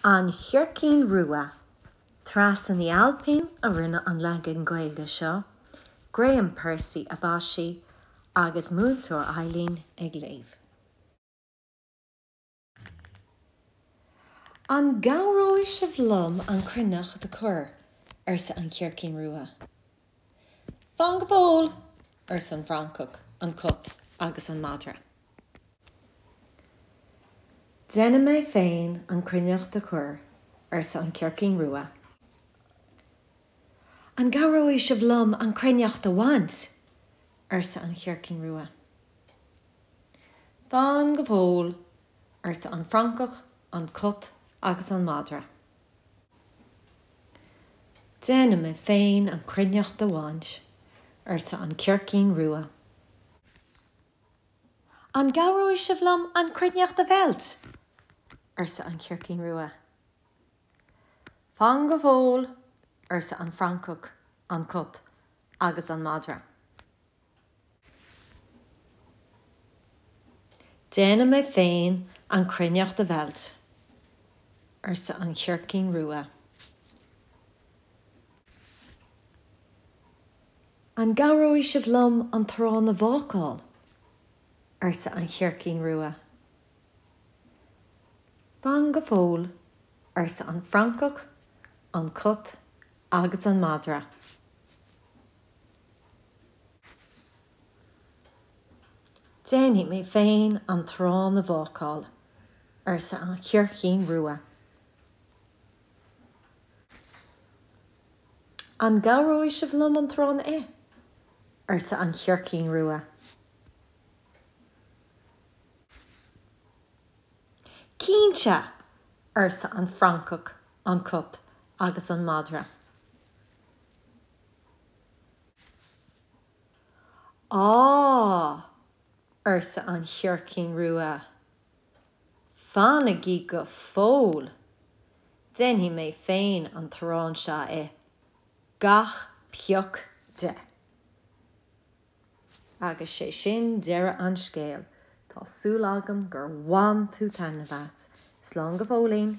An Chircín Rua. Treasa Ní Ailpín a rinne an leagan Gaeilge seo, Graham Percy a mhaisigh agus Múinteoir Eileen ag léamh. An gcabhróidh sibh liom an cruithneacht a chur? arsa an Chircín Rua. Fan go fóill, arsa an francach, an cat agus an madra. Déanfaidh mé féin an chruithneacht a chur, arsa an chircín rua. An gcabhróidh sibh liom an chruithneacht a bhaint? arsa an chircín rua. Fan go fóill, arsa an francach, an cat agus an madra. Déanfaidh mé féin an chruithneacht a bhaint, arsa an chircín rua. An gcabhróidh sibh liom an chruithneacht a mheilt? arsa an chircín rua. Fan go fóill, arsa an francach, an cat agus an madra. Déanfaidh mé féin an chruithneacht a mheilt, arsa an chircín rua. An gcabhróidh sibh liom an t-arán a bhácáil? arsa an chircín rua. Fan go fóill, arsa an francach, an cat agus an madra. Déanfaidh mé féin an t-arán a bhácáil, arsa an Chircín Rua. An gcabhróidh sibh liom an t-arán a ith? arsa an Chircín Rua. Cinnte! arsa an francach, an cat agus an madra. Á! arsa an chircín rua. Fanaigí go fóill! Déanfaidh mé féin an t-arán seo a ith, gach pioc de! Agus sé sin deireadh an scéil. Tá súil agam gur bhain tú taitneamh as. Slán go fóillín!